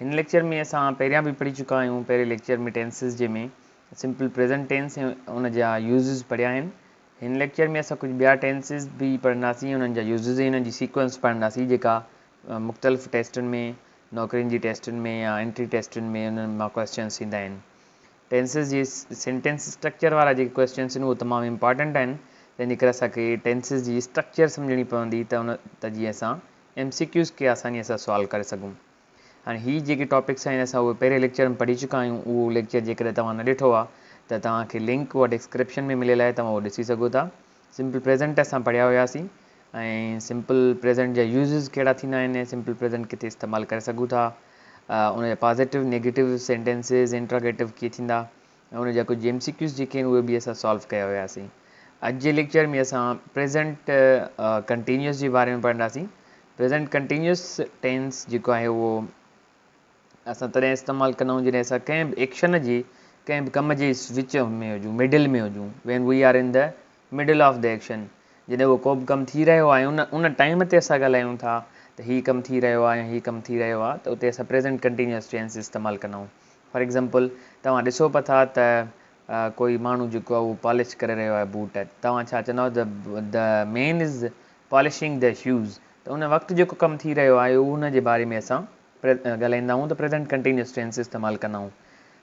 هن ليڪچر ۾ اسان پهريان به پڙهي چڪا آهيون پهرين ليڪچر ۾ ٽينسز جي ۾ سمپل پريزنٽ ٽينس ۽ ان جا يوزز پڙهيا آهن هن ليڪچر ۾ اسان ڪجهه ٻيا ٽينسز به پڙهنداسين ۽ انهن جا يوزز ۽ انهن جي سيڪوئنس پڙهنداسين جيڪا مختلف ٽيسٽن ۾ نوڪرين جي ٽيسٽن ۾ يا انٽري ٽيسٽن ۾ انهن مان ڪويسچنس ايندا آهن ٽينسز جي سينٽينس اسٽرڪچر وارا جيڪي ڪويسچنس اهي تمام امپارٽنٽ آهن تنهن جي ڪري اسان کي ٽينسز جي اسٽرڪچر سمجهڻي پوندي ته ان ته جيئن اسان ايم سي ڪيوز کي آسانيء سان سوالو ڪري سگهون. هاڻي هي جيڪي ٽاپڪس آهن اسان اهي پهرين ليڪچر ۾ پڙهي چڪا آهيون اهو ليڪچر جيڪڏهن توهان نه ڏٺو آهي ته توهان کي لنڪ اها ڊسڪرپشن ۾ مليل آهي توهان اهو ڏسي سگهو ٿا سمپل پريزنٽ اسان پڙهيا هياسين ۽ سمپل پريزنٽ جا يوزز ڪهڙا ٿيندا آهن ۽ سمپل پريزنٽ ڪٿي استعمال ڪري سگهون ٿا ان جا پازيٽو نيگيٽو سينٽينسز انٽراگيٽو ڪيئن ٿيندا ۽ ان جا ڪجهه ايم سي ڪيوز جيڪي آهن اهي به اسان سالو ڪيا هياسين. اڄ جي ليڪچر ۾ اسان پريزنٽ ڪنٽينيوس جي باري ۾ پڙهنداسين. پريزنٽ ڪنٽينيوس ٽينس جيڪو آهي اهو اسان تڏهن استعمال ڪندا آهيون جڏهن اسان ڪنهن به ايڪشن جي ڪنهن به ڪم جي وچ ۾ هجون مڊل ۾ هجون when we are in the middle of the action جڏهن اهو ڪوبه ڪم ٿي رهيو آهي ان ان ٽائيم تي اسان ڳالهايون ٿا ته هي ڪم ٿي رهيو آهي يا هي ڪم ٿي رهيو آهي ته اتي اسان پريزنٽ ڪنٽينيوس ٽينس استعمال ڪندا آهيون فار ايگزامپل توهان ڏسو پئا ٿا ته ڪوئي ماڻهو جيڪو آهي اهو پالش ڪري رهيو آهي بوٽ توهان ڇا چونداو ته the man is polishing the shoes ته ان وقت جيڪو ڪم ٿي رهيو آهي اهو ان جي باري ۾ اسان ڳالهائيندا آهيون ته پريزنٽ ڪنٽينيوس ٽينس استعمال ڪندا آهيون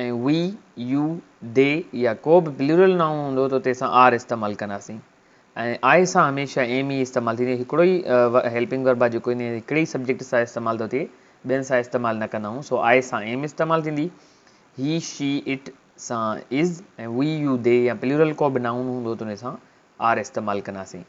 ۽ وي، يو، دي يا ڪو به پليورل نائون هوندو ته اتي اسان آر استعمال ڪنداسين ۽ آء سان هميشه ايم ئي استعمال ٿيندي. هڪڙو ئي هيلپنگ ورب آهي جيڪو ان هڪڙي ئي سبجيڪٽ سان استعمال ٿو ٿئي، ٻين سان استعمال نه ڪندا آهيون، سو آء سان ايم استعمال ٿيندي. هي، شي، اٽ سان از ۽ وي، يو، دي يا پليورل ڪو به نائون هوندو ته ان سان آر استعمال ڪنداسين.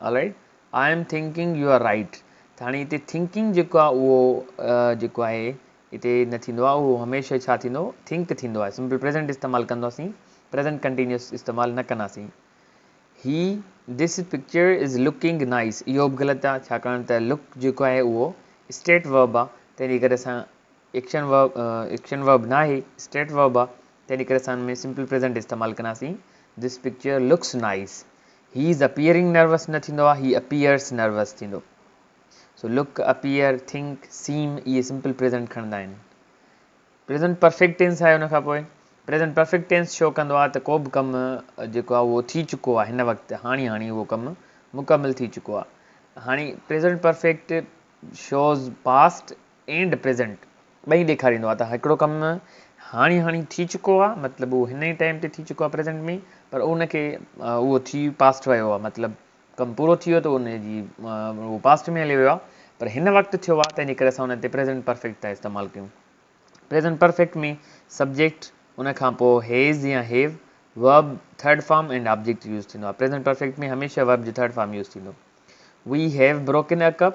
Alright I am thinking you are right ته هاڻي هتي thinking جيڪو آهي اهو جيڪو آهي هتي نه ٿيندو آهي اهو هميشه ڇا ٿيندو think ٿيندو آهي سمپل پريزنٽ استعمال ڪنداسين پريزنٽ ڪنٽينيوس استعمال نه ڪنداسين هي this picture is looking nice اهو به غلط آهي ڇاڪاڻ ته لوڪ جيڪو آهي اهو اسٽيٽ ورب آهي تنهنجي ڪري اسان ايڪشن ورب ايڪشن ورب ناهي اسٽيٽ ورب آهي تنهن ڪري اسان ان ۾ سمپل پريزنٽ استعمال ڪنداسين، This picture looks nice. He is appearing nervous نه ٿيندو آهي، He appears nervous ٿيندو. سو look، appear، think، seem اهي سمپل پريزنٽ کڻندا آهن. پريزنٽ پرفيڪٽ ٽينس آهي ان کان پوء. پريزنٽ پرفيڪٽ ٽينس شو ڪندو آهي ته ڪو به ڪم جيڪو آهي اهو ٿي چڪو آهي هن وقت، هاڻي هاڻي اهو ڪم مڪمل ٿي چڪو آهي. هاڻي present perfect shows past and present ٻئي ڏيکاريندو آ ته هڪڙو ڪم هاڻي هاڻي ٿي چڪو آ مطلب اهو هن ئي ٽائيم تي ٿي چڪو آ پريزنٽ ۾ پر ان کي اهو ٿي پاسٽ ويو آ مطلب ڪم پورو ٿي ويو ته ان جي اهو پاسٽ ۾ هليو ويو آ پر هن وقت ٿيو آ تنهنجي ڪري اسان ان تي پريزنٽ پرفيڪٽ ٿا استعمال ڪيون پريزنٽ پرفيڪٽ ۾ سبجيڪٽ ان کان پوء هيز يا have verb third form and object use ٿيندو آ پريزنٽ پرفيڪٽ ۾ هميشه ورب جو ٿرڊ فارم يوز ٿيندو we have broken a cup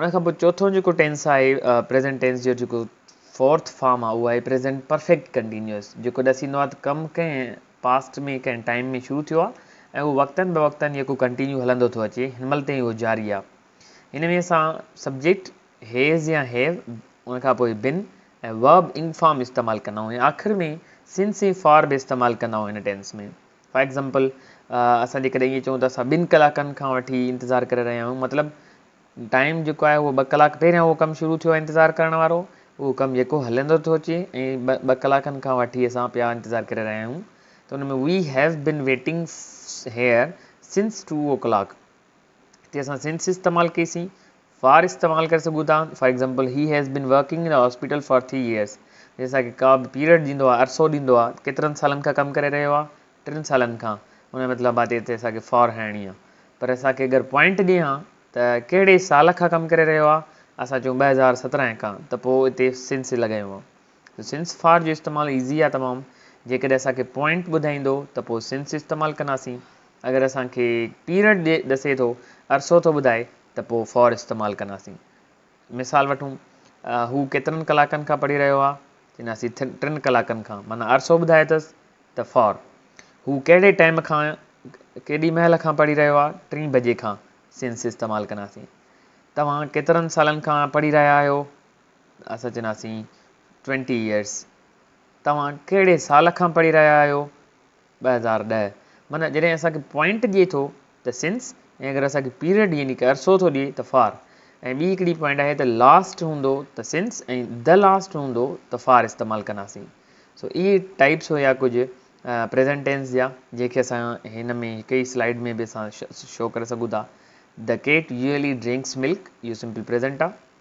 ان کان پوء چوٿون جيڪو ٽينس آهي پريزنٽ ٽينس جو جيڪو فورٿ فارم آهي اهو آهي پريزنٽ پرفيڪٽ ڪنٽينيوس جيڪو ڏسي ايندو آهي ته ڪم ڪنهن پاسٽ ۾ ڪنهن ٽائيم ۾ شروع ٿيو آهي ۽ اهو وقتن به وقتن يڪو ڪنٽينيو هلندو ٿو اچي هن مهل تائين اهو جاري آهي هن ۾ اسان سبجيڪٽ هيز يا هيو ان کان پوء بن ۽ ورب انگ فارم استعمال ڪندا آهيون ۽ آخر ۾ سنس ۽ فار به استعمال ڪندا آهيون هن ٽينس ۾ فار ايگزامپل اسان جي ڪڏهن ائين چئون ته اسان ٻن ڪلاڪن کان وٺي انتظار ڪري رهيا آهيون مطلب ٽائيم جيڪو آهي اهو ٻه ڪلاڪ پهريان اهو ڪم شروع ٿيو آهي انتظار ڪرڻ وارو اهو ڪم جيڪو هلندو ٿو اچي ۽ ٻه ٻه ڪلاڪن کان وٺي اسان پيا انتظار ڪري رهيا آهيون ته ان ۾ we have been waiting here since two او ڪلاڪ هتي اسان سنس استعمال ڪئي سين فار استعمال ڪري سگهون ٿا for example he has been working in a hospital for three years جي اسانکي ڪا به پيريڊ ڏيندو آهي عرصو ڏيندو آهي ڪيترن سالن کان ڪم ڪري رهيو آهي ٽن سالن کان ان جو مطلب آهي ته هتي اسانکي فار هڻڻي آهي پر اسانکي اگر پوائنٽ ڏئي ها ته ڪهڙي سال کان ڪم ڪري رهيو آهي اسان چون ٻه هزار سترهن کان ته پوء هتي سنس لڳايون ها ته سنس فار جو استعمال ايزي آهي تمام جيڪڏهن اسانکي پوائنٽ ٻڌائيندو ته پوء سنس استعمال ڪنداسين اگر اسانکي پيريڊ ڏسي ٿو عرصو ٿو ٻڌائي ته پوء فار استعمال ڪنداسين. مثال وٺون، هو ڪيترن ڪلاڪن کان پڙهي رهيو آهي؟ چئنداسين ٿن ٽن ڪلاڪن کان معنيٰ عرصو ٻڌائي ٿس ته فار. هو ڪهڙي ٽائيم کان ڪيڏي مهل کان پڙهي رهيو آهي؟ ٽين بجي کان سنس استعمال ڪنداسين. توهان ڪيترن سالن کان پڙهي رهيا آهيو؟ اسان چئنداسين ٽوئنٽي ايئرس. توهان ڪهڙي سال کان پڙهي رهيا آهيو؟ ٻه هزار ڏهه معنيٰ جڏهن اسان کي پوائنٽ ڏئي ٿو ته Since ۽ اگر اسان کي پيريڊ يعني ڪه عرصو ٿو ڏئي ته For ۽ ٻي هڪڙي پوائنٽ آهي ته Last هوندو ته Since ۽ The Last هوندو ته For استعمال ڪنداسين سو اهي ٽائيپس هيا ڪجهه پريزنٽ ٽينس جا جنهن کي اسان هن ۾ هڪ ئي سلائيڊ ۾ به اسان شو ڪري سگهون ٿا The cat usually drinks milk اهو سمپل پريزنٽ آهي